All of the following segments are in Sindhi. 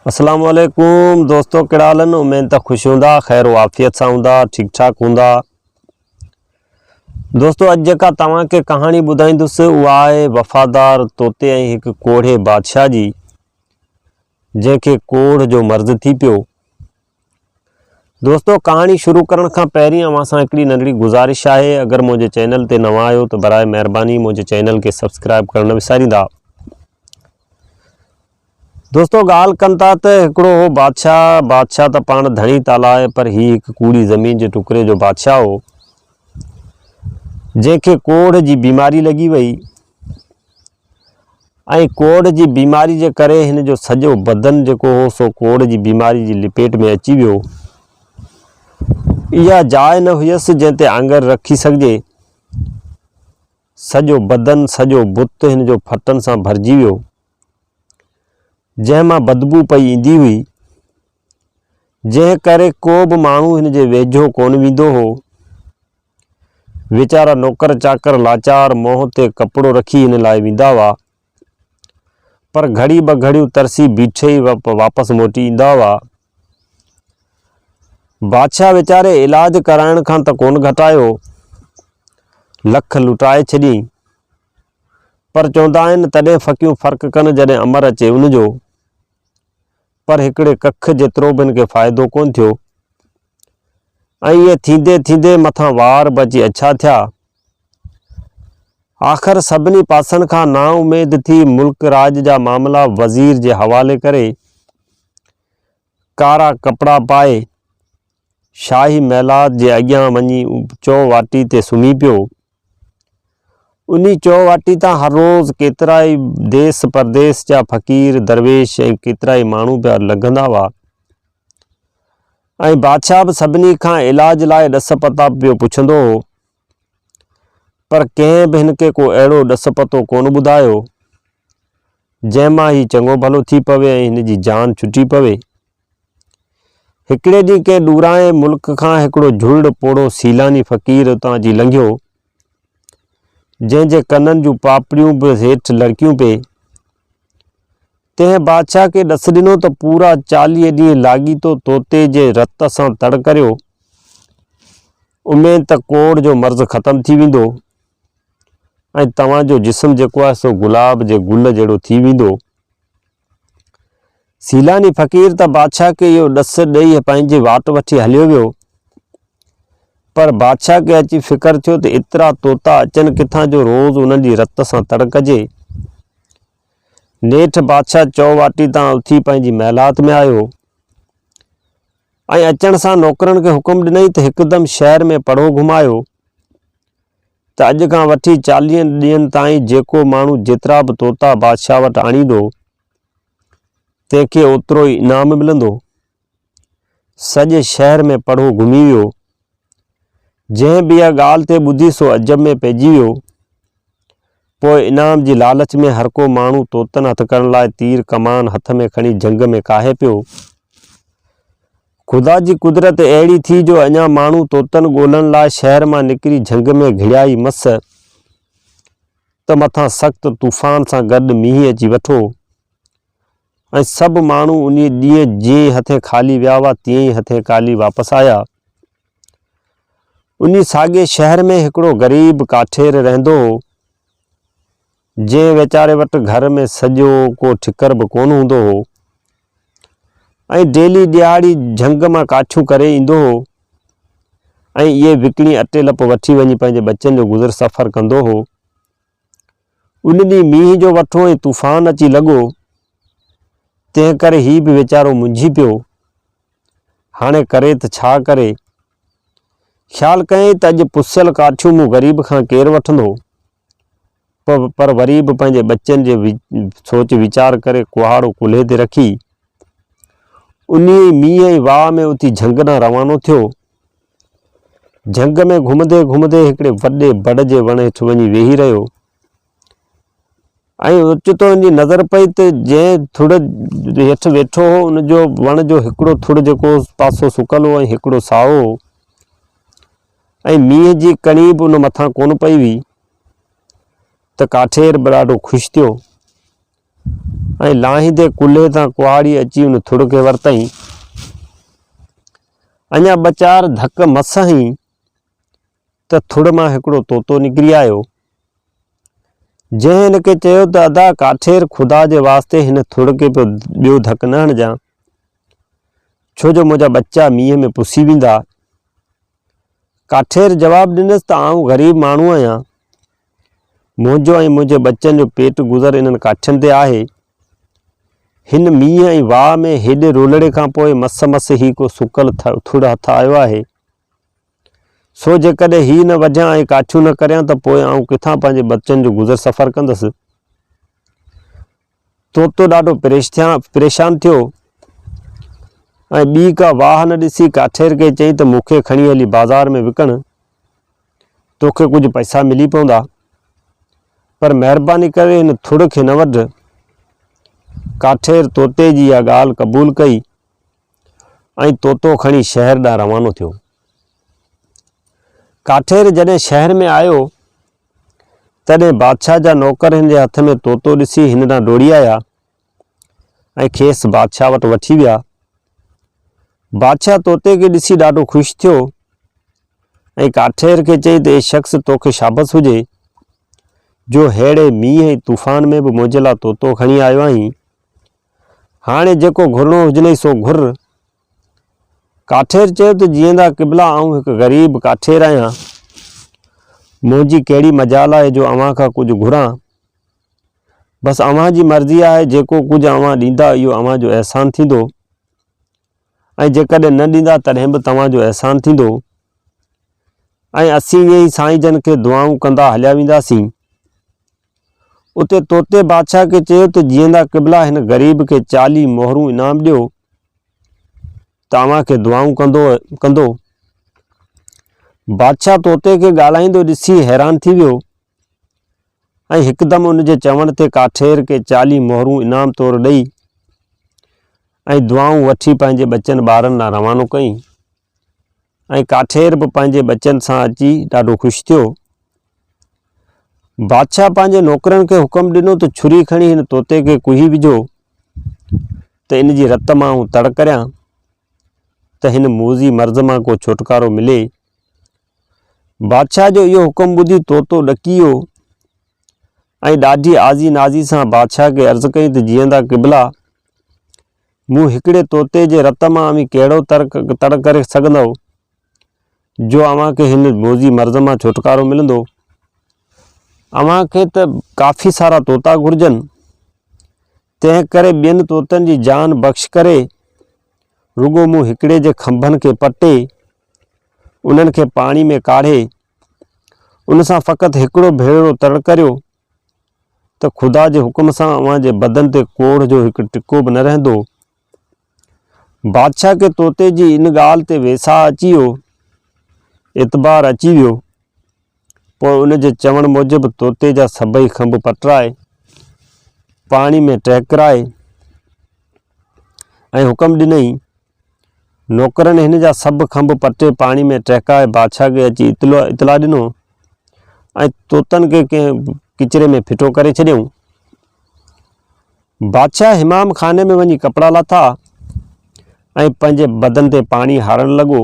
اسلام عليڪم دوستو ڪهڙا حال آهن اميد ته خوش هوندا خير و عافيت سان هوندا ٺيڪ ٺاڪ هوندا دوستو اڄ جيڪا توهان کي ڪهاڻي ٻڌائيندس اها آهي وفادار طوطي ۽ هڪ ڪوڙهي بادشاهه جي جنهن کي ڪوڙهه جو مرض ٿي پيو دوستو ڪهاڻي شروع ڪرڻ کان پهرين اوهان سان هڪڙي ننڍڙي گذارش آهي اگر منهنجي چينل تي نوان آهيو ته برائي مهرباني منهنجي چينل کي سبسڪرائب ڪرڻ نه وساريندا دوستو ڳالهه ڪن ٿا ته هڪڙو هو بادشاهه بادشاهه ته پاڻ ڌڻي تالا آهي پر هي هڪ ڪوڙي زمين جي ٽڪري جو بادشاهه هو جنهن کي ڪوڙهه جي بيماري لڳي وئي ۽ ڪوڙهه جي بيماري جي ڪري هن جو سڄو بدن جيڪو هو سو ڪوڙهه جي بيماري جي لپيٽ ۾ اچي ويو. اها جاء نه هيس جنهن تي آڱر رکي سگهجي. سڄو بدن، سڄو بت هن جو ڦٽن سان ڀرجي ويو. جنهن مان بدبوء پئي ايندي هئي. جنهن ڪري ڪو به ماڻهو هن جي ويجهو ڪونه ويندو هو. ويچارا نوڪر چاڪر لاچار منهن تي ڪپڙو رکي هن لاء ويندا هئا. پر گهڙي ٻه گهڙيون ترسي بيٺي ئي واپس موٽي ايندا هئا. بادشاهه ويچاري علاج ڪرائڻ کان ته ڪونه گهٽايو، لک لٽائي ڇڏيئين. پر چوندا آهن تڏهن ڦڪيون فرق ڪن جڏهن امر اچي ان جو. پر هڪڙي ڪک جيترو به هن کي فائدو ڪونه ٿيو ۽ ائين ٿيندي ٿيندي مٿان وار به اچي اڇا ٿيا. آخر سڀني پاسن کان نا اميد ٿي ملڪ راڄ جا معاملا وزير جي حوالي ڪري ڪارا ڪپڙا پائي شاهي محلات جي اڳيان وڃي چو واٽي تي سمهي پيو انهيء چوواٽي تان هر روز ڪيترائي ديس پرديس جا فقير، درويش ۽ ڪيترائي ماڻهو پيا لنگهندا هئا ۽ بادشاهه به سڀني کان علاج لاء ڏس پتا پيو پڇندو هو، پر ڪنهن به هن کي ڪو اهڙو ڏس پتو ڪونه ٻڌايو، جنهن مان هي چڱو ڀلو ٿي پوي ۽ هن جي جان ڇٽي پوي. هڪڙي ڏينهن ڪنهن ڏورانهين ملڪ کان هڪڙو جهلڙ پوڙهو سيلاني فقير اتان اچي لنگهيو، جنهن جي ڪنن جون پاپڙيون به هيٺ لڙڪيون پئي. تنهن بادشاهه کي ڏس ڏنو ته پورا چاليهه ڏينهن لاڳيتو طوطي جي رت سان تڙ ڪريو، اميد ته ڪوڙهه جو مرض ختم ٿي ويندو ۽ توهان جو جسم جيڪو آهي سو گلاب جي گل جهڙو ٿي ويندو. سيلاني فقير ته بادشاهه کي اهو ڏس ڏئي پنهنجي واٽ وٺي هليو ويو پر بادشاهه کي اچي فڪر ٿيو ته ايترا طوطا اچن ڪٿان جو روز انهن جي رت سان تڙ ڪجي نيٺ بادشاهه چو واٽي تان اٿي پنهنجي محلات ۾ آيو ۽ اچڻ سان نوڪرن کي حڪم ڏنئي ته هڪدم شهر ۾ پڙهو گهمايو ته اڄ کان وٺي چاليهن ڏينهن تائين جيڪو ماڻهو جيترا به طوطا بادشاهه وٽ آڻيندو، تنهن کي اوترو ئي انعام ملندو. سڄي شهر ۾ پڙهو گهمي ويو. جنهن به اها ڳالهه تي ٻڌي سو عجب ۾ پئجي ويو. پوء انعام جي لالچ ۾ هرڪو ماڻهو طوطن هٿ ڪرڻ لاء تير ڪمان هٿ ۾ کڻي جهنگ ۾ ڪاهي پيو. خدا جي قدرت اهڙي ٿي جو اڃا ماڻهو طوطن ڳولڻ لاء شهر مان نڪري جهنگ ۾ گهڙيائي مس ته مٿان سخت طوفان سان گڏ مينهن اچي وٺو ۽ سڀ ماڻهو انهي ڏينهن جيئن ئي هٿين خالي ويا هئا تيئن ئي هٿين خالي واپس آيا. انهي ساڳئي شهر ۾ هڪڙو غريب ڪاٺير رهندو هو. جنهن ويچاري وٽ گهر ۾ سڄو ڪو ٺڪر به ڪونه هوندو هو ۽ ڊيلي ڏيهاڙي جهنگ مان ڪاٺيون ڪري ايندو هو ۽ اهي وڪڻي اٽي لپ وٺي وڃي پنهنجي ٻچن جو گذر سفر ڪندو هو. ان ڏينهن مينهن جو وٺو ۽ طوفان اچي لڳو، تنهن ڪري هي به ويچارو منجهي پيو. هاڻي ڪري ته ڇا ڪري؟ خيال ڪيائين ته اڄ پسيل ڪاٺيون مون غريب کان ڪير وٺندو؟ پر وري به پنهنجي ٻچن جي سوچ ويچار ڪري ڪهاڙو ڪلهي تي رکي انهي ئي مينهن ۽ واء ۾ اتي جهنگ ڏانهن روانو ٿيو. جهنگ ۾ گهمندي گهمندي هڪڙي وڏي بڙ جي وڻ هيٺ وڃي ويهي رهيو ۽ اوچتو هن جي نظر پئي ته جنهن ٿڙ هيٺ ويٺو هو ان جو وڻ جو هڪڙو ٿڙ جيڪو پاسو سڪل هو ۽ هڪڙو سائو هو. ۽ مينهن جي ڪڻي به ان مٿان ڪونه پئي هئي ته ڪاٺير به ڏاڍو خوش ٿيو ۽ لاهيندي ڪلهي تان ڪهاڙي اچي ان ٿڙ کي ورتائين. اڃا ٻه چار ڌڪ مس هنئين ته ٿڙ مان هڪڙو طوطو نڪري آيو، جنهن هن کي چيو ته ادا ڪاٺير خدا جي واسطي هن ٿڙ کي ٻيو ڌڪ نه هڻجان. ڇو جو منهنجا ٻچا مينهن ۾ پسي ويندا. ڪاٺير جواب ڏنس ته آئون غريب ماڻهو آهيان. منهنجو ۽ منهنجي ٻچن جو پيٽ گذر انهن ڪاٺين تي آهي. هن مينهن ۽ واء ۾ هيڏي رولڙي کان پوء مس مس هي ڪو سڪل ٿڙ هٿ آيو آهي. سو جيڪڏهن هي نه وڍيان ۽ ڪاٺيون نه ڪريان ته پوء آئون ڪٿان پنهنجي ٻچن جو گذر سفر ڪندس. طوطو ڏاڍو پريشان ٿيو ۽ ٻي ڪا واهه نه ڏسي ڪاٺير کي چيائين ته مون کي کڻي هلي بازار ۾ وڪڻ، توکي ڪجهه پئسا ملي پوندا، پر مهرباني ڪري هن ٿڙ کي نه وڍ. ڪاٺير طوطي جي اها ڳالهه قبول ڪئي ۽ طوطو کڻي شهر ڏانهن روانو ٿيو. ڪاٺير جڏهن شهر ۾ آيو تڏهن بادشاهه جا نوڪر هن جي هٿ ۾ طوطو ڏسي هن ڏانهن ڊوڙي آيا ۽ کيس بادشاهه وٽ وٺي ويا. بادشاهه طوطي کي ڏسي ڏاڍو خوش ٿيو ۽ ڪاٺير کي چئي ته اي شخص توکي شابس هجي جو ههڙي مينهن ۽ طوفان ۾ به منهنجي لاء طوطو کڻي آيو آهين. هاڻي جيڪو گهرڻو هجنئي سو گهر. ڪاٺير چيو ته جيئندا قبلا آئون هڪ غريب ڪاٺير آهيان منهنجي ڪهڙي مجال آهي جو اوهان کان ڪجهه گهران بس اوهان جي مرضي آهي جيڪو ڪجهه اوهان ڏيندا اهو اوهان جو احسان ٿيندو ۽ جيڪڏهن نه ڏيندا تڏهن به توهان جو احسان ٿيندو ۽ اسين ائين ئي سائين جن کي دعائون ڪندا هليا وينداسين اتي طوطي بادشاهه کي چيو ته جيئندا قبلا هن غريب کي چاليهه مهرون انعام ڏيو ته اوهان کي دعائون ڪندو ڪندو بادشاهه طوطي کي ڳالهائيندو ڏسي حيران ٿي ويو ۽ هڪدم ان جي چوڻ تي ڪاٺير کي چاليهه مهرون انعام طور ڏئي ۽ دعائون وٺي پنهنجي ٻچن ٻارن ڏانهن روانو ڪئي ۽ ڪاٺير به پنهنجي ٻچن سان اچي ڏاڍو خوش ٿيو. بادشاهه پنهنجي نوڪرن کي حڪم ڏنو ته ڇري کڻي هن طوطي کي ڪوهي وجهو ته ان جي رت مان آئون تڙ ڪريان ته هن موذي مرض مان ڪو ڇوٽڪارو ملي. بادشاهه جو اهو حڪم ٻڌي طوطو ڏڪي ويو ۽ ڏاڍي آزي نازي سان بادشاهه کي عرض ڪئي ته جيئندا قبلا مون هڪڙي طوطي جي رت مان اوهين ڪهڙو تڙ ڪري سگهندؤ جو اوهان کي هن بوضي مرض مان ڇوٽڪارو ملندو؟ اوهان کي ته ڪافي سارا طوطا گهرجن، تنهن ڪري ٻين طوطن جي جان بخش ڪري رڳو مون هڪڙي جي کنڀن کي پٽي انهن کي پاڻي ۾ ڪاڙهي ان سان فقط هڪڙو ڀيرو تڙ ڪريو ته خدا جي حڪم سان اوهان جي بدن تي ڪوڙهه جو هڪ ٽڪو به نه رهندو. بادشاهه کي طوطي جي ان ڳالهه تي ويساهه اچي ويو، اعتبار اچي ويو. پوء ان جي چوڻ موجب طوطي جا سڀئي کنڀ پٽرائي، پاڻي ۾ ٽهڪرائي ۽ حڪم ڏنئي نوڪرن هن جا سڀ کنڀ پٽي پاڻي ۾ ٽهڪائي بادشاهه کي اچي اطلاع ڏنو ۽ طوطن کي ڪنهن ڪچري ۾ ڦٽو ڪري ڇڏيائون. بادشاهه حمام خاني ۾ وڃي ڪپڙا لاٿا ۽ پنهنجي بدن تي پاڻي هارڻ لڳو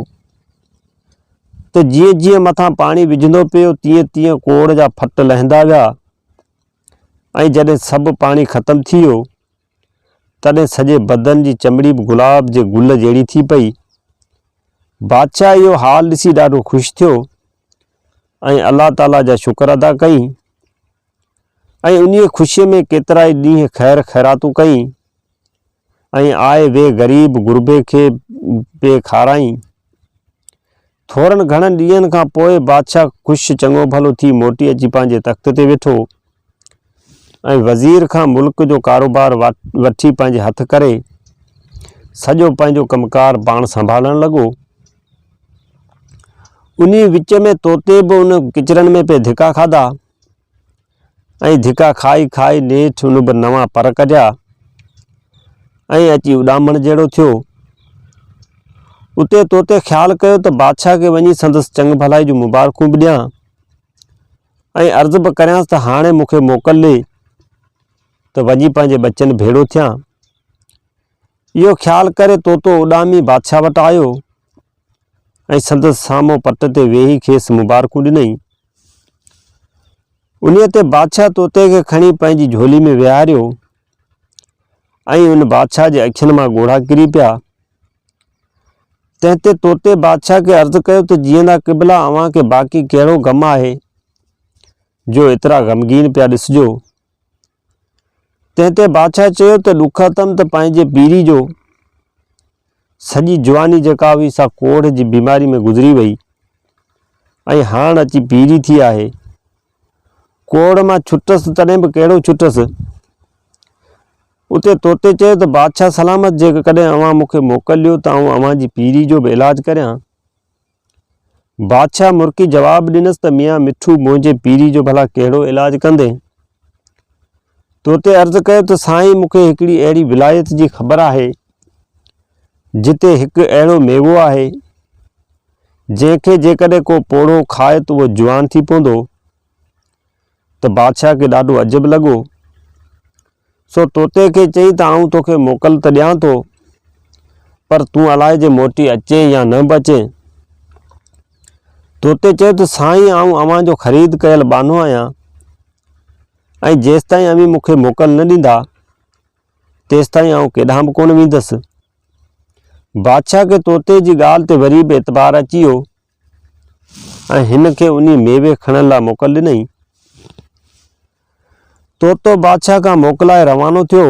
ته جيئن جيئن مٿان پاڻي وجهندو پيو تيئن تيئن ڪوڙ جا ڦٽ لهندا ويا ۽ جڏهن سڀ پاڻي ختم ٿي ويو تڏهن سڄي بدن جي چمڙي به گلاب جي گل جهڙي ٿي پئي. بادشاهه اهو حال ڏسي ڏاڍو خوش ٿيو ۽ الله تعاليٰ جا شڪر ادا ڪئين ۽ انهيء خوشيء ۾ ڪيترائي ڏينهن خير خيراتون ڪئين ۽ آء وي غريب غربي کي به کارائين. ٿورن گهڻن ڏينهن کان پوء بادشاهه خوش چڱو ڀلو ٿي موٽي اچي پنهنجي تخت تي ويٺو ۽ وزير کان ملڪ جو ڪاروبار وٺي پنهنجي هٿ ڪري سڄو پنهنجو ڪم ڪار پاڻ سنڀالڻ لڳو انهي وچ ۾ طوطي به ان ڪچرن ۾ پئي ڌڪا کاڌا ۽ ڌڪا کائي کائي نيٺ ان به نوان پر ڪڍيا ۽ اچي اڏامڻ جهڙو ٿيو. اتي طوطي خيال ڪيو ته بادشاهه کي وڃي سندس چڱ ڀلائي جون مبارڪون به ڏيان ۽ عرض به ڪريانس ته هاڻي مون کي موڪل ڏي ته وڃي پنهنجي ٻچن ڀيڙو ٿيان. اهو خيال ڪري طوطو اڏامي بادشاهه وٽ آيو ۽ سندس سامهون پٽ تي ويهي کيس مبارڪون ڏنائين. انهيء تي بادشاهه طوطي کي کڻي پنهنجي جهولي ۾ ويهاريو ۽ ان بادشاهه جي اکين مان ڳوڙها ڪري پيا. تنهن تي طوطي بادشاهه کي عرض ڪيو ته جيئندا قبلا اوهان کي باقي ڪهڙو غم آهي جو ايترا غمگين پيا ڏسجو. تنهن تي بادشاهه چيو ته ڏکاتم ته پنهنجي پيري جو سڄي جواني جيڪا هئي سا ڪوڙهه جي بيماري ۾ گذري وئي ۽ هاڻ اچي پيري ٿي آهي ڪوڙهه مان ڇٽس تڏهن به ڪهڙو ڇٽس اتي توتي چيو ته بادشاهه سلامت جيڪڏهن اوهان مون کي موڪل ڏيو ته آئون اوهان جي پيري جو به علاج ڪريان بادشاهه مرڪي جواب ڏنس ته ميان مٺو منهنجي پيري جو ڀلا ڪهڙو علاج ڪندين؟ تو تي عرض ڪيو ته سائين مون کي هڪڙي اهڙي ولايت جي خبر آهي جتي هڪ اهڙو ميوو آهي جنهن کي جيڪڏهن ڪو پوڙهو کائي ته اهو جوان ٿي پوندو ته بادشاهه کي ڏاڍو عجب لڳو، سو طوطي کي چئي ته آئون توکي موڪل ته ڏيان ٿو، پر تون الائي جي موٽي اچين يا نه به اچين. طوطي چيو ته سائين آئون اوهان جو خريد ڪيل ٻانهو آهيان ۽ جيستائين اوهين مون کي موڪل نه ڏيندا، تيستائين آئون ڪيڏانهن به ڪونه ويندس. بادشاهه کي طوطي جي ڳالهه تي وري به اعتبار اچي ويو. ۽ هن کي انهي ميوي کڻڻ لاء موڪل ڏنائين. طوطو بادشاهه کان موڪلائي روانو ٿيو.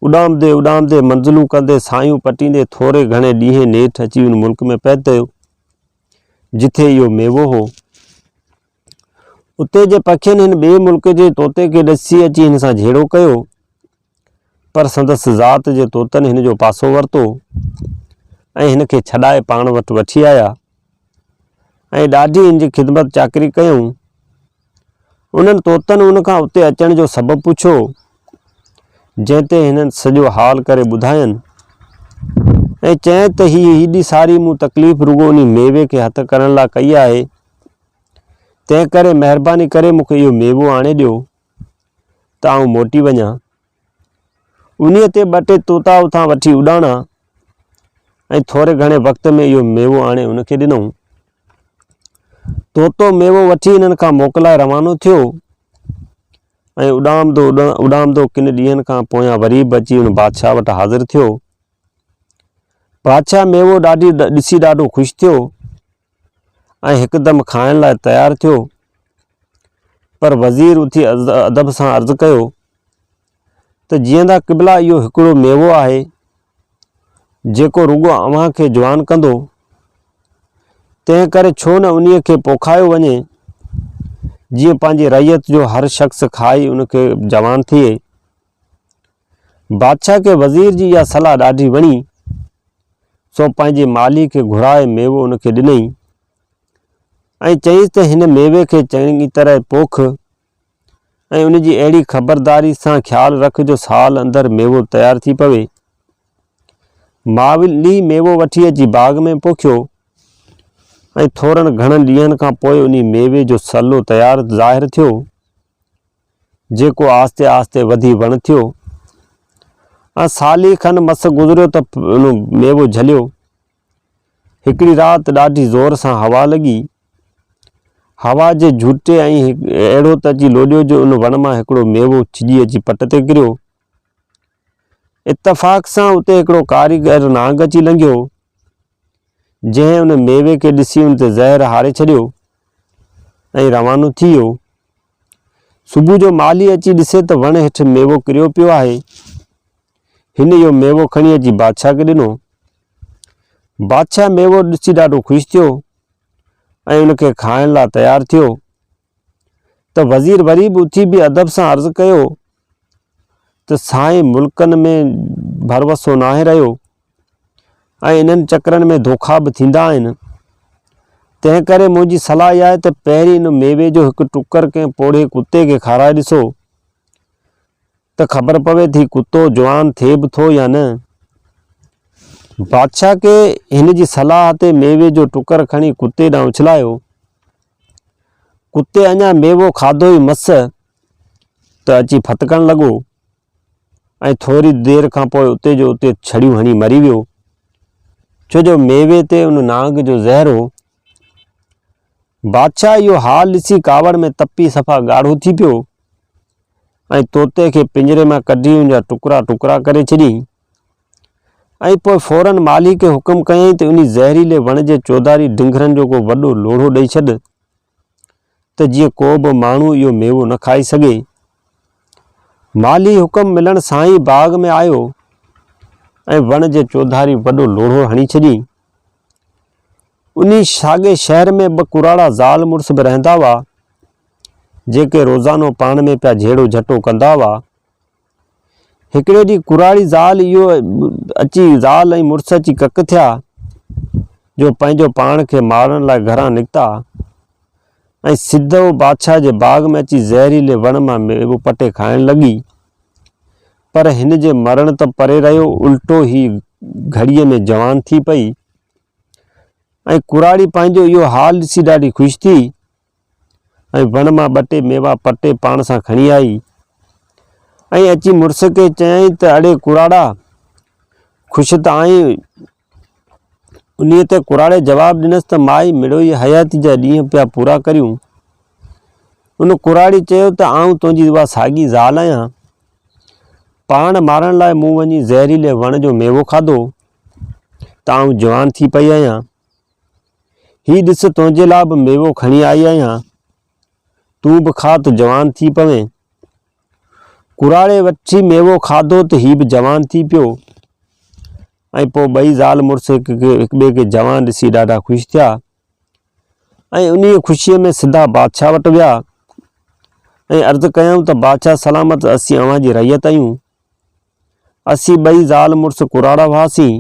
اڏامندي اڏامندي منزلون ڪندي سايون پٽيندي ٿوري گهڻي ڏينهن نيٺ اچي ان ملڪ ۾ پهتيو جتي اهو ميوو هو. اتي جي پکين هن ٻئي ملڪ جي طوطي کي ڏسي اچي هن سان جهيڙو ڪيو، پر سندس ذات جي طوطن هن جو پاسو ورتو ۽ هن کي ڇڏائي پاڻ وٽ وٺي آيا ۽ ڏاڍي هن جي خدمت چاڪري ڪيائون. انهن طوطن هن کان اتي اچڻ جو سبب پڇيو، جنهن تي هنن سڄو حال ڪري ٻڌاين ۽ چيائين ته هي هيڏي ساري مون تڪليف رڳو انهي ميوي کي هٿ ڪرڻ لا ڪئي آهي، تنهن ڪري مهرباني ڪري مون کي اهو ميوو آڻي ڏيو ته آئون موٽي وڃان. انهيء تي ٻه ٽي طوطا اتان وٺي اڏاڻا ۽ ٿوري گهڻي وقت ۾ اهو ميوو آڻي ان کي ڏنائون. طوطو ميوو وٺي انهن کان موڪلائي روانو ٿيو ۽ اڏامندو اڏامندو ڪن ڏينهن کان پويان وري به اچي ان بادشاهه وٽ حاضر ٿيو. بادشاهه ميوو ڏاڍي ڏسي ڏاڍو خوش ٿيو ۽ هڪدم کائڻ لاء تيار ٿيو، پر وزير اٿي ادب سان عرض ڪيو ته جيئندا قبلا اهو هڪڙو ميوو آهي، جيڪو رڳو اوهان کي جوان ڪندو، تنهن ڪري ڇو نه انهيء کي پوکايو وڃي، جيئن پنهنجي رعيت جو هر شخص کائي ان کي جوان ٿئي. بادشاهه کي وزير جي اها صلاح ڏاڍي وڻي، سو پنهنجي مالهي کي گهرائي ميوو ان کي ڏنئي، ۽ چيائينس ته هن ميوي کي چڱي طرح پوک، ۽ ان جي اهڙي خبرداري سان خيال رک جو سال اندر ميوو تيار ٿي پوي. مالهي ميوو وٺي اچي باغ ۾ پوکيو، ۽ ٿورن گهڻن ڏينهن کان پوء انهي ميوي جو صلو تيار ظاهر ٿيو. جيڪو آهستي آهستي وڌي وڻ ٿيو ۽ سالي کن مس گذريو ته ان ميوو جهليو. هڪڙي رات ڏاڍي زور سان هوا لڳي. هوا جي جهوٽي ائين اهڙو ته اچي لوڏيو جو ان وڻ مان هڪڙو ميوو ڇڄي اچي پٽ تي ڪريو. اتفاق سان اتي هڪڙو ڪاريگر نانگ اچي لنگهيو، جنهن ان ميوي کي ڏسي ان تي زهر هاري ڇڏيو ۽ روانو ٿي ويو. صبح جو مالهي اچي ڏسي ته وڻ هيٺ ميوو ڪريو پيو آهي. هن اهو ميوو کڻي اچي بادشاهه کي ڏنو. بادشاهه ميوو ڏسي ڏاڍو خوش ٿيو ۽ ان کي کائڻ لاء تيار ٿيو ته وزير وري به اٿي بي ادب سان عرض ڪيو ته سائين ملڪن ۾ ڀروسو ناهي رهيو ۽ انهن چڪرن ۾ ڌوکا به ٿيندا آهن تنهن ڪري منهنجي صلاح اها آهي ته پهرين ان ميوي جو هڪ ٽڪر ڪنهن پوڙهي ڪتي کي کارائي ڏسو ته خبر پوي ٿي ڪتو جوان ٿئي به ٿو يا نه بادشاهه کي هن جي صلاح تي ميوي جو ٽڪر کڻي ڪتي ڏانهن اڇلايو ڪتي اڃا ميوو کاڌو ئي مس ته اچي ڦٿڪڻ لڳو ۽ ٿوري دير کان پوء اتي جو اتي ڇڙيون هڻي مري ويو، ڇو جو ميوي تي ان نانگ جو زهر هو. بادشاهه اهو حال ڏسي ڪاوڙ ۾ تپي صفا ڳاڙهو ٿي پيو ۽ طوطي کي پڃري مان ڪڍي ان جا ٽڪرا ٽڪرا ڪري ڇڏيائين ۽ پوء فوراً مالهي کي حڪم ڪيائين ته انهي زهريلي وڻ جي چوڌاري ڊنگرن جو ڪو وڏو لوڙهو ڏئي ڇڏ. ته جيئن ڪو به ماڻهو اهو ميوو نه کائي سگهي. مالهي حڪم ملڻ سان ئي باغ ۾ آيو ۽ وڻ جي چوڌاري وڏو لوڙهو هڻي ڇڏيئين. انهي ساڳئي شهر ۾ ٻه ڪراڙا زال مڙس به رهندا هئا، جيڪي روزانو پاڻ ۾ پيا جهيڙو جهٽو ڪندا هئا. هڪڙي ڏينهن ڪراڙي زال اهو اچي زال ۽ مڙس اچي ڪڪ ٿيا جو پنهنجو پاڻ کي مارڻ لاء گهران نڪتا ۽ سڌو بادشاهه جي باغ ۾ اچي زهريلي وڻ مان ميوو پٽي کائڻ لڳي پر هن جي مرڻ ته پري رهيو الٽو هي گهڙيء ۾ جوان ٿي پئي ۽ ڪراڙي پنهنجو اهو حال ڏسي ڏاڍي خوش ٿي ۽ وڻ مان ٻه ٽي ميوا پٽي پاڻ سان کڻي آئي ۽ اچي مڙس کي چيائين ته اڙي ڪراڙا خوش ته آهين؟ انهيء تي ڪراڙي جواب ڏنس ته مائي مڙوئي حياتي جا ڏينهن پيا پورا ڪريون. ان ڪراڙي چيو ته آئون تنهنجي اها ساڳي زال آهيان. پاڻ مارڻ لاء مون وڃي زهريلي وڻ جو ميوو کاڌو ته آئون جوان ٿي پئي آهيان. هي ڏس تنهنجي لاء به ميوو کڻي آئي آهيان، تون به کاء ته جوان ٿي پوين. ڪراڙي وٺي ميوو کاڌو ته هي به جوان ٿي پيو ۽ پوء ٻئي زال مڙس هڪٻئي کي جوان ڏسي ڏاڍا خوش ٿيا ۽ انهيء خوشيء ۾ سڌا بادشاهه وٽ ويا ۽ عرض ڪيائون ته بادشاهه سلامت اسين اوهان جي رعيت آهيون. اسين ٻئي زال مڙس ڪراڙا هئاسين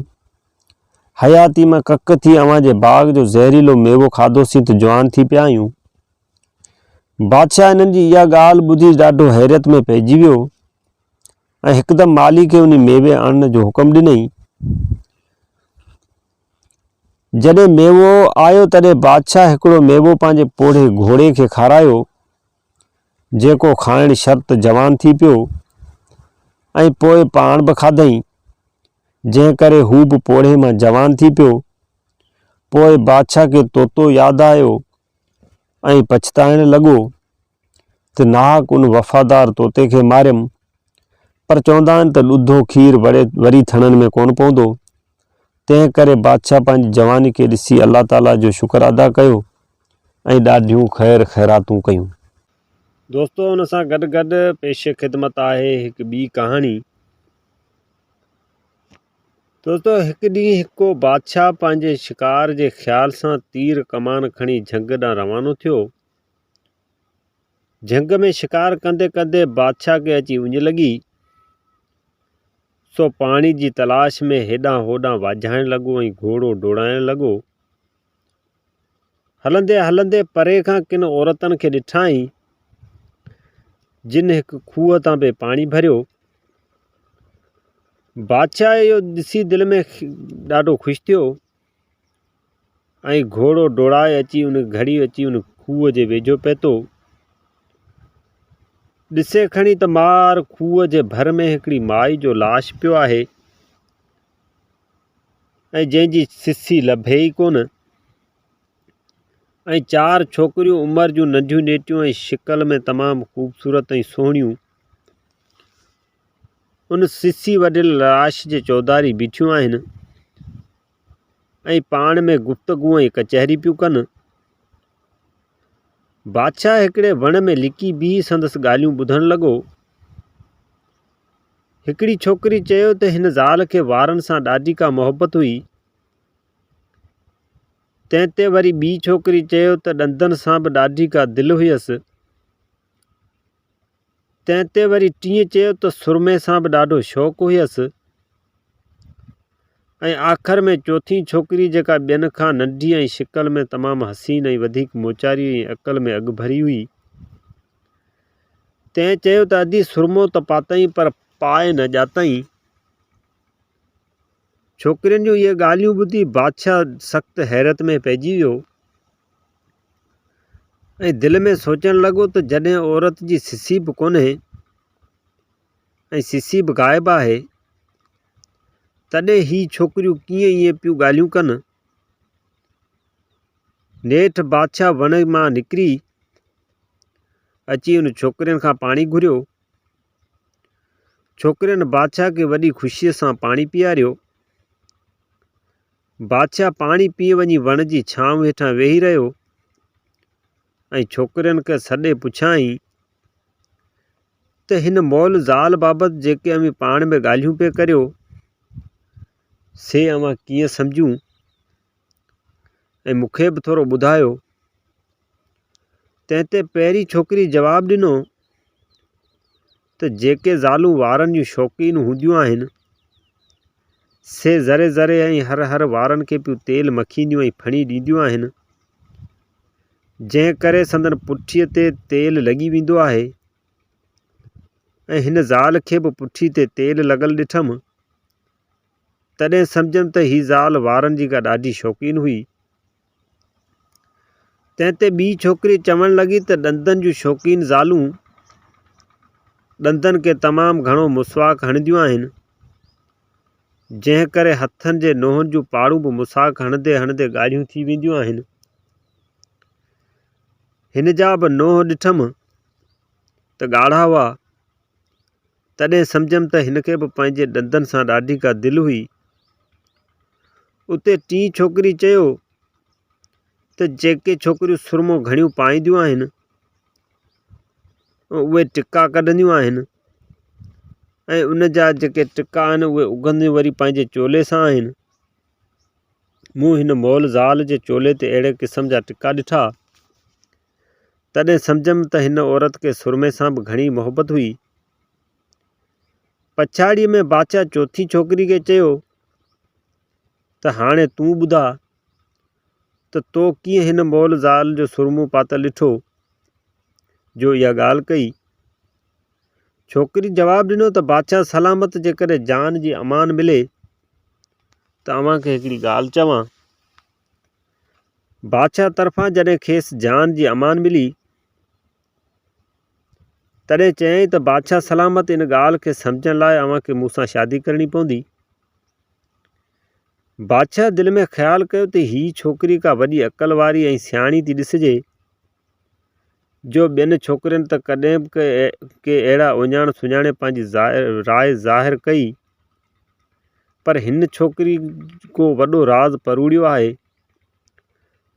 حياتي مان ڪڪ ٿي اوهان جي باغ جو زهريلو ميوو کاڌوسين ته جوان ٿي پيا آهيون. بادشاهه انهن جي اها ڳالهه ٻڌي ڏاڍو حيرت ۾ پئجي ويو ۽ هڪدم مالي کي انهي ميوي آڻڻ جو حڪم ڏنئين. جڏهن ميوو آيو تڏهن بادشاهه هڪڙو ميوو پنهنجي پوڙهي گهوڙي کي کارايو جيڪو کائڻ شرط جوان ٿي پيو ۽ پوء پاڻ به کاڌئين، جنهن ڪري هو به پوڙهي مان جوان ٿي پيو. پوء بادشاهه کي طوطو ياد آيو ۽ پڇتائڻ لڳو ته ناحق ان وفادار طوطي کي ماريم، پر چوندا آهن ته ڏڌو کير وري ٿڻن ۾ ڪونه پوندو، تنهن ڪري بادشاهه پنهنجي جواني کي ڏسي الله تعاليٰ جو شڪر ادا ڪيو ۽ ڏاڍيون خير خيراتون ڪيون. دوستو ان سان گڏ گڏ پيش خدمت آهي هڪ ٻي ڪهاڻي. دوستو هڪ ڏينهن هڪ ڪو بادشاهه پنهنجي شڪار جي خيال سان تير ڪمان کڻي جهنگ ڏانهن روانو ٿيو جهنگ ۾ شڪار ڪندي ڪندي بادشاهه کي اچي اڃ لڳي، سو پاڻي جي تلاش ۾ هيڏانهن هوڏانهن واجهائڻ لڳو ۽ گهوڙو ڊوڙائڻ لڳو. هلندي هلندي پري کان ڪن عورتن کي ڏٺائين، جن هڪ کوهه تان به پاڻي ڀريو. بادشاهه اهو ڏسي دل ۾ ڏاڍو خوش ٿيو. ۽ گهوڙو ڊوڙائي اچي ان گهڙيء اچي ان کوهه جي ويجهو پهتو. ڏسي کڻي ته مار کوهه جي ڀر ۾ هڪڙي مائي جو لاش پيو آهي ۽ جنهن جي سسي لڀي ئي ڪونه ۽ چار ڇوڪريون عمر جون ننڍيون نيٽيون ۽ شڪل ۾ تمام خوبصورت ۽ سهڻيون ان سسي وڍيل لاش جي چوڌاري بيٺيون آهن ۽ پاڻ ۾ گفتگو ۽ ڪچهري پيون ڪن. بادشاهه هڪڙي وڻ ۾ لڪي بيهي سندس ڳالهيون ٻڌڻ لڳو. هڪڙي ڇوڪري چيو ته هن زال کي وارن سان ڏاڍي ڪا محبت هئي. تنهن تي وري ٻي ڇوڪري چيو ته ڏندن سان به ڏاڍي ڪا دل هيس. تنهن تي وري ٽيئن چيو ته سرمي سان به ڏاڍو شوق هيس ۽ آخر ۾ چوٿين ڇوڪري جيڪا ٻين کان ننڍي ۽ شڪل ۾ تمام حسين ۽ وڌيڪ موچاري ۽ عقل ۾ اڳڀري هئي، تنهن چيو ته ادي سرمو ته پاتئين پر پاء نه ڄاتئين. ڇوڪرين جون اهي ڳالهيون ٻڌي بادشاهه سخت حيرت ۾ پئجي ويو. ۽ دل ۾ سوچڻ لڳو ته جڏهن عورت جي سسي به ڪونهي ۽ سسي به غائب آهي، تڏهن هي ڇوڪريون ڪيئن ائين پيون ڳالهيون ڪن؟ نيٺ بادشاهه وڻ مان نڪري اچي ان ڇوڪرين کان پاڻي گهريو. ڇوڪرين بادشاهه کي وڏي خوشيء سان پاڻي پياريو. بادشاهه پاڻي پيئي وڃي وڻ جي ڇانو هيٺان ويهي رهيو ۽ ڇوڪرين کي سڏي پڇيائين ته هن مئل زال بابت جيڪي اوهين پاڻ ۾ ڳالهيون پئي ڪريو سي اوهان ڪيئن سمجهون ۽ مون کي به ٿورو ٻڌايو تنهن تي پهرين ڇوڪري جواب ڏنو ته جيڪي زالون وارن جون شوقين هونديون آهن، سي ذري ذري ۽ هر هر وارن کي پيو تيل مکينديون ۽ ڦڻي ڏينديون آهن، جنهن ڪري سندن پٺيء تي تيل لڳي ويندو آهي ۽ هن زال کي به پٺي تي تيل لڳل ڏٺم، تڏهن سمجهيم ته هي زال وارن جي ڪا ڏاڍي شوقين هئي، تنهن تي ٻي ڇوڪري چوڻ لڳي ته ڏندن جون شوقين زالون ڏندن کي تمام گهڻو مسواڪ هڻنديون آهن، جنهن ڪري هٿن جي ننهن جون پاڙون به مسواڪ هڻندي هڻندي ڳاڙهيون ٿي وينديون آهن. هن جا به ننهن ڏٺم ته ڳاڙها هئا. تڏهن سمجهيم ته هن کي به پنهنجي ڏندن سان ڏاڍي ڪا دل هئي. اتي ٽين ڇوڪري چيو ته جيڪي ڇوڪريون سرمو گهڻيون پائينديون آهن، اهي ٽڪا ڪڍنديون آهن ۽ ان جا جيڪي ٽڪا آهن اهي اگهنديون وري پنهنجي چولي سان آهن. مون هن مئل زال جي چولي تي اهڙي قسم جا ٽڪا ڏٺا. تڏهن سمجهيم ته هن عورت کي سرمي سان به گهڻي محبت هئي. پڇاڙيء ۾ بادشاهه چوٿين ڇوڪري کي چيو ته هاڻي تون ٻڌاء ته تو ڪيئن هن مئل زال جو سرمو پاتل ڏٺو جو اها ڳالهه ڪئي؟ ڇوڪري جواب ڏنو ته بادشاهه سلامت جيڪڏهن جان جي امان ملي ته اوهان کي هڪڙي ڳالهه چوان. بادشاهه طرفان جڏهن کيس جان جي امان ملي، تڏهن چيائين ته بادشاهه سلامت ان ڳالهه کي سمجهڻ لاء اوهان کي مون سان شادي ڪرڻي پوندي. بادشاهه دل ۾ خيال ڪيو ته هي ڇوڪري ڪا وڏي عقل واري ۽ سياڻي ٿي ڏسجي، جو ٻين ڇوڪرين ته ڪڏهن به ڪي اهڙا اهڃاڻ سڃاڻي پنهنجي راء ظاهر ڪئي پر هن ڇوڪري ڪو وڏو راز پروڙيو آهي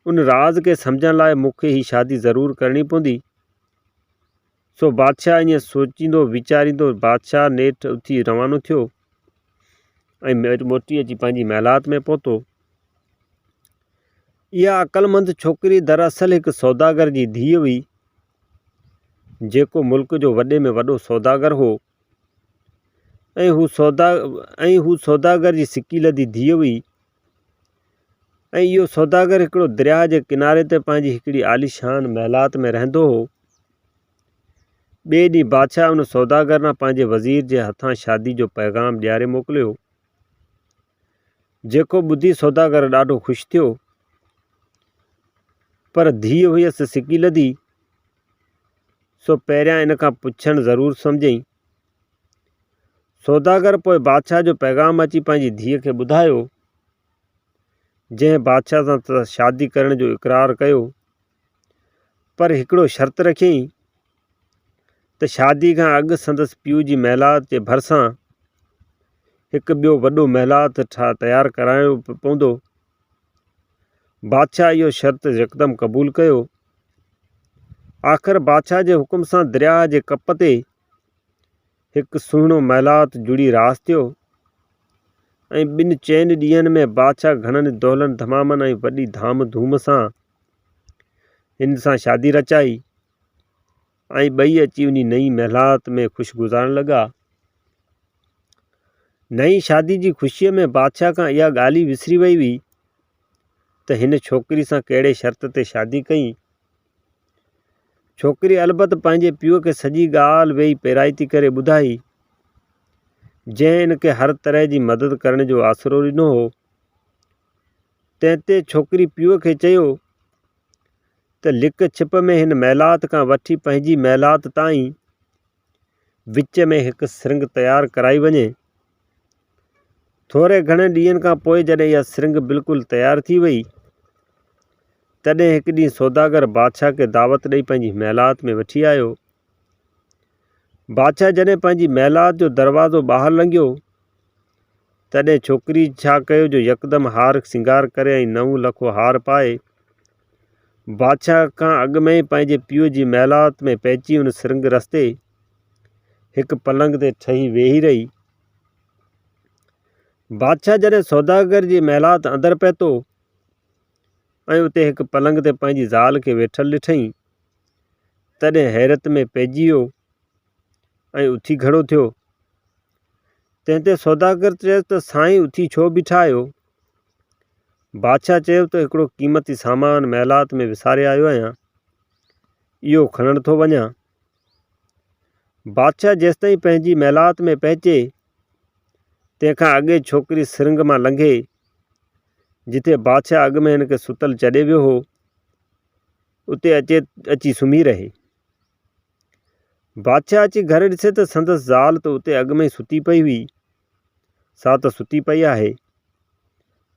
ان راز کي سمجهڻ لاء مون کي هي شادي ضرور ڪرڻي پوندي سو بادشاهه ائين سوچيندو ويچاريندو بادشاهه نيٺ اٿي روانو ٿيو ۽ موٽي اچي پنهنجي محلات ۾ پهتو. اها عقلمند ڇوڪري دراصل هڪ سوداگر جي ڌيء هئي، جيڪو ملڪ جو وڏي ۾ وڏو سوداگر هو ۽ هو سوداگر جي سڪي لڌي ڌيء هئي. ۽ اهو سوداگر هڪڙو درياء جي ڪناري تي پنهنجي هڪڙي عاليشان محلات ۾ رهندو هو. ٻئي ڏينهن بادشاهه ان سوداگر ڏانهن پنهنجي وزير جي هٿان شادي جو پيغام ڏياري موڪليو، جيڪو ٻڌي سوداگر ڏاڍو خوش ٿيو، پر ڌيء هيس سڪيلڌي، سو پهريان ان کان پڇڻ ضرور سمجهيائين. سوداگر پوء بادشاهه جو پيغام اچي پنهنجي ڌيء کي ٻڌايو، جنهن بادشاهه سان شادي ڪرڻ جو اقرار ڪيو، پر هڪڙو شرط رکيائين ته شادي کان اڳ سندس پيء جي محلات جي ڀرسان هڪ ٻيو وڏو محلات تيار ڪرائڻو پوندو. بادشاهه اهو شرط يڪدم قبول ڪيو. آخر بادشاهه جي حڪم سان درياهه جي ڪپ تي هڪ سهڻو محلات جڙي راس ٿيو ۽ ٻن چئن ڏينهن ۾ بادشاهه گهڻن دولن دمامن ۽ وڏي ڌام ڌوم سان هن سان شادي رچائي ۽ ٻئي اچي انهي نئين محلات ۾ خوش گذارڻ لڳا نئين شادي جي خوشيء ۾ بادشاهه کان اها ڳالهه ئي وسري وئي هئي ته هن ڇوڪري سان ڪهڙي شرط تي شادي ڪئي ڇوڪري البت پنهنجي پيء کي سڄي ڳالهه ويهي پيرائتي ڪري ٻڌائي، جنهن ان کي هر طرح جي مدد ڪرڻ جو آسرو ڏنو هو. تنهن تي ڇوڪري پيء کي چيو ته لڪ ڇپ ۾ هن محلات کان وٺي پنهنجي محلات تائين وچ ۾ هڪ سرنگهه تيار ڪرائي وڃي. ٿوري گهڻي ڏينهن کان پوء جڏهن اها سرنگهه بلڪل تيار ٿي ويئي، تڏهن هڪ ڏينهن سوداگر بادشاهه کي دعوت ڏئي پنهنجي محلات ۾ وٺي آيو. بادشاهه جڏهن پنهنجي محلات جو دروازو ٻاهر لنگهيو، تڏهن ڇوڪري ڇا ڪيو جو يڪدم هار سينگار ڪري ۽ نئون لکو هار پائي بادشاهه کان اڳ ۾ ئي پنهنجي پيء جي محلات ۾ پهچي ان سرنگهه رستي هڪ پلنگ تي ٺهي ويهي رهي. بادشاهه جڏهن سوداگر جي محلات اندر پهتو ۽ اتي هڪ پلنگ تي پنهنجي زال کي ويٺل ڏٺئين تڏهن حيرت ۾ پئجي ويو ۽ اٿي کڙو ٿيو. تنهن تي سوداگر چيس ته سائين اٿي ڇو بيٺا آهيو؟ بادشاهه چيو ته هڪڙو قيمتي سامان محلات ۾ وساري آيو آهيان، اهو کڻڻ ٿو وڃان. بادشاهه جيستائين پنهنجي محلات ۾ پهچي، تنهن کان اڳي ڇوڪري سرنگهه مان لنگهي، جتي بادشاهه اڳ ۾ هن کي ستل چڏي ويو هو، اتي اچي سمهي رهي. بادشاهه اچي گهر ڏسي ته سندس زال ته اتي اڳ ۾ ئي ستي پئي هئي، سا ته ستي پئي آهي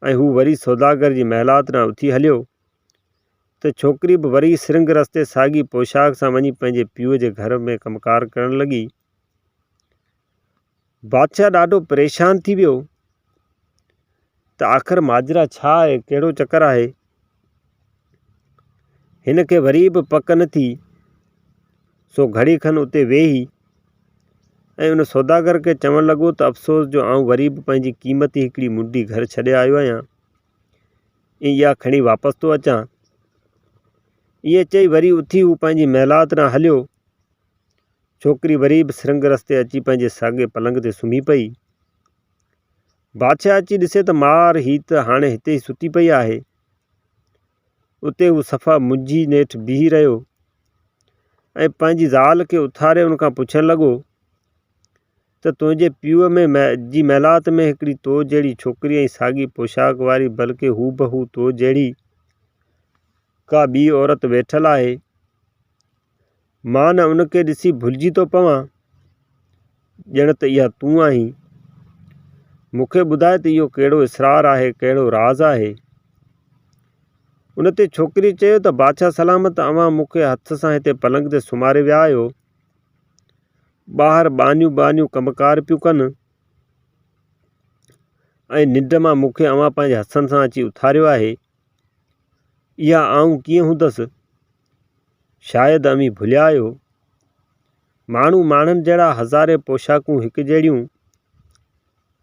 ۽ هو وري سوداگر جي محلات ڏانهن اٿي هليو ته ڇوڪري به وري سرنگهه رستي ساڳي پوشاڪ سان وڃي پنهنجي پيء جي گهر ۾ ڪم ڪار ڪرڻ لڳي. بادشاهه ڏاڍو پريشان ٿي ويو ته آخر ماجرا ڇا آهي، ڪهڙو چڪر آهي؟ هن کي وري به پڪ نه ٿي، سو گهڙي کن اتي ويهي ۽ ان سوداگر کي چوڻ لڳو ته افسوس جو آئون وري به پنهنجي قيمتي هڪڙي منڊي گهر ڇڏي آيو آهيان ۽ اها کڻي واپس ٿو اچان. ائين چئي وري اٿي هو پنهنجي محلات ڏانهن هليو. ڇوڪري وري به سرنگ رستي اچي پنهنجي ساڳئي پلنگ تي سمهي پئي. بادشاهه اچي ڏسي ته مار هي ته هاڻي هتي ئي ستي پئي آهي. اتي هو صفا منجهي نيٺ بيهي رهيو ۽ پنهنجي زال کي اٿاري ان کان پڇڻ لڳو ته تنهنجي پيء ۾ جي محلات ۾ هڪڙي تو جهڙي ڇوڪري ۽ ساڳي پوشاڪ واري بلڪه هوبهو تو جهڙي ڪا ٻي عورت ويٺل آهي مان نه ان کي ڏسي ڀلجي ٿو پوان، ڄڻ ته اها تون آهين. مون کي ٻڌاء ته اهو ڪهڙو اسرار آهي، ڪهڙو راز آهي؟ ان تي ڇوڪريء چيو ته بادشاهه سلامت اوهان مون کي هٿ سان هتي پلنگ تي سمهاري ويا آهيو. ٻاهر ٻانهيون ٻانهيون ڪم ڪار پيون ڪن ۽ ننڊ مان مون کي اوهان پنهنجي هٿن سان اچي اٿاريو آهي. اها آئون ڪيئن هوندس؟ شايد اوهين ڀليا آهيو. ماڻهو ماڻهن جهڙا هزارين پوشاڪون هڪ جهڙيون.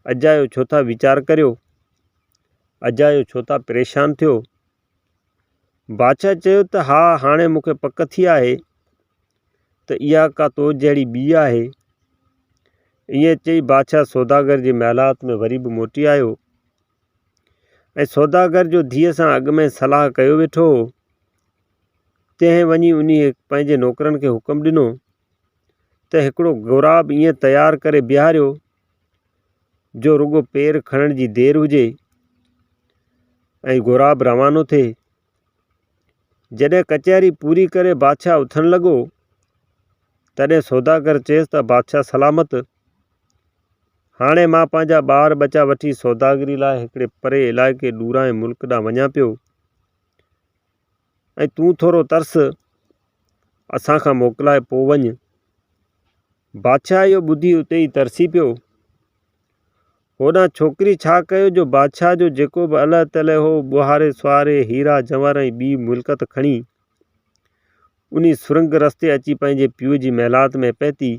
اجايو ڇو ٿا ويچار ڪريو؟ اجايو ڇو ٿا پريشان ٿيو؟ بادشاهه چيو ته ها هاڻي مون کي پڪ ٿي آهي ته اها ڪا تو جهڙي ٻي آهي. ائين چئي بادشاهه سوداگر جي محلات ۾ وري به موٽي آيو. ۽ سوداگر جو ڌيء سان اڳ ۾ صلاح ڪيو ويٺو هو، تنهن وڃي انهيء پنهنجي نوڪرن کي حڪم ڏنو ته هڪڙو غوراب ائين تيار ڪري بيهاريو، جو رڳو پير کڻڻ جي دير هجي ۽ غوراب روانو ٿئي. جڏهن ڪچهري پوري ڪري بادشاهه اٿڻ لڳو، تڏهن سوداگر چيس ته بادشاهه سلامت! هاڻي مان پنهنجا ٻار ٻچا وٺي سوداگري لاء هڪڙي پري علائقي ڏورانهين ملڪ ڏانهن وڃان پيو ۽ تون ٿورو ترس اسان کان موڪلائي پوء وڃ. بادشاهه اهو ٻڌي اتي ئي ترسي پيو. هوڏانهن ڇوڪري ڇا ڪيو جو بادشاهه جو جيڪو به الهه تلهه هو، ٻهاري سواري، هيرا جواهر ۽ ٻي ملڪت کڻي، انهي سرنگ رستي اچي پنهنجي پيء جي محلات ۾ پهتي.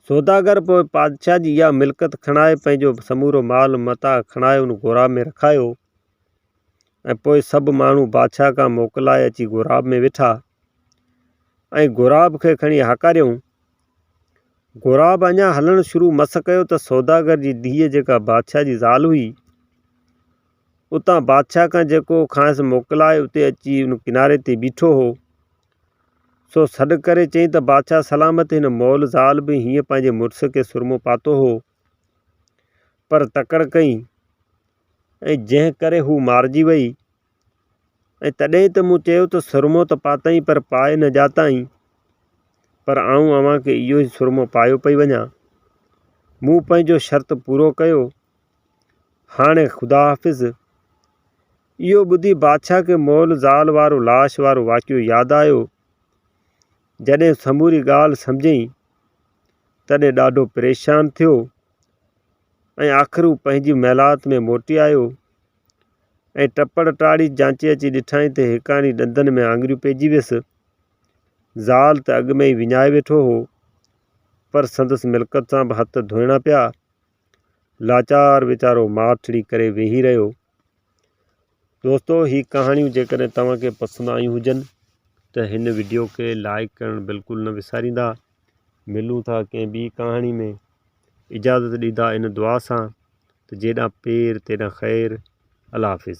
سوداگر پوء بادشاهه جي اها ملڪت کڻائي، پنهنجو سمورو مال متاع کڻائي ان غوراب ۾ رکايو ۽ پوء سڀ ماڻهو بادشاهه کان موڪلائي اچي غوراب ۾ ويٺا ۽ غوراب کي کڻي هاڪاريائون غراب اڃا هلڻ شروع مس ڪيو ته سوداگر جي ڌيء جيڪا بادشاهه جي زال هئي، اتان بادشاهه کان جيڪو کانئس موڪلائي اتي اچي ان ڪناري تي بيٺو هو، سو سڏ ڪري چيائين ته بادشاهه سلامت هن مئل زال به هيئن پنهنجي مڙس کي سرمو پاتو هو، پر تڪڙ ڪئي ۽ جنهن ڪري هو مارجي وئي. ۽ تڏهن ته مون چيو ته سرمو ته پاتئين پر پائي نه ڄاتائين، پر آئون اوهان کي اهو ئي سرمو پايو پئي وڃان. مون پنهنجو شرط پورو ڪيو، هاڻي خدا حافظ. اهو ٻڌي بادشاهه کي مئل زال وارو لاش وارو واقعو ياد آيو. جڏهن سموري ڳالهه سمجهيائين، تڏهن ڏاڍو پريشان ٿيو ۽ آخر هو پنهنجي محلات ۾ موٽي آيو. ۽ ٽپڙ ٽاڙي جانچي اچي ڏٺائين ته هيڪاڻي ڏندن ۾ آڱريون پئجي ويس. زال ته اڳ ۾ ئي وڃائي ويٺو هو، پر سندس ملڪت سان به هٿ ڌوئڻا پيا. لاچار ويچارو ماٺڙي ڪري ويهي رهيو. دوستو هي ڪهاڻيون جيڪڏهن توهان کي پسند آيون هجن ته هن وڊيو کي لائيڪ ڪرڻ بلڪل نه وساريندا. ملون ٿا ڪنهن ٻي ڪهاڻي ۾. اجازت ڏيندا ان دعا سان ته جيڏانهن پير تيڏانهن خير الله حافظ.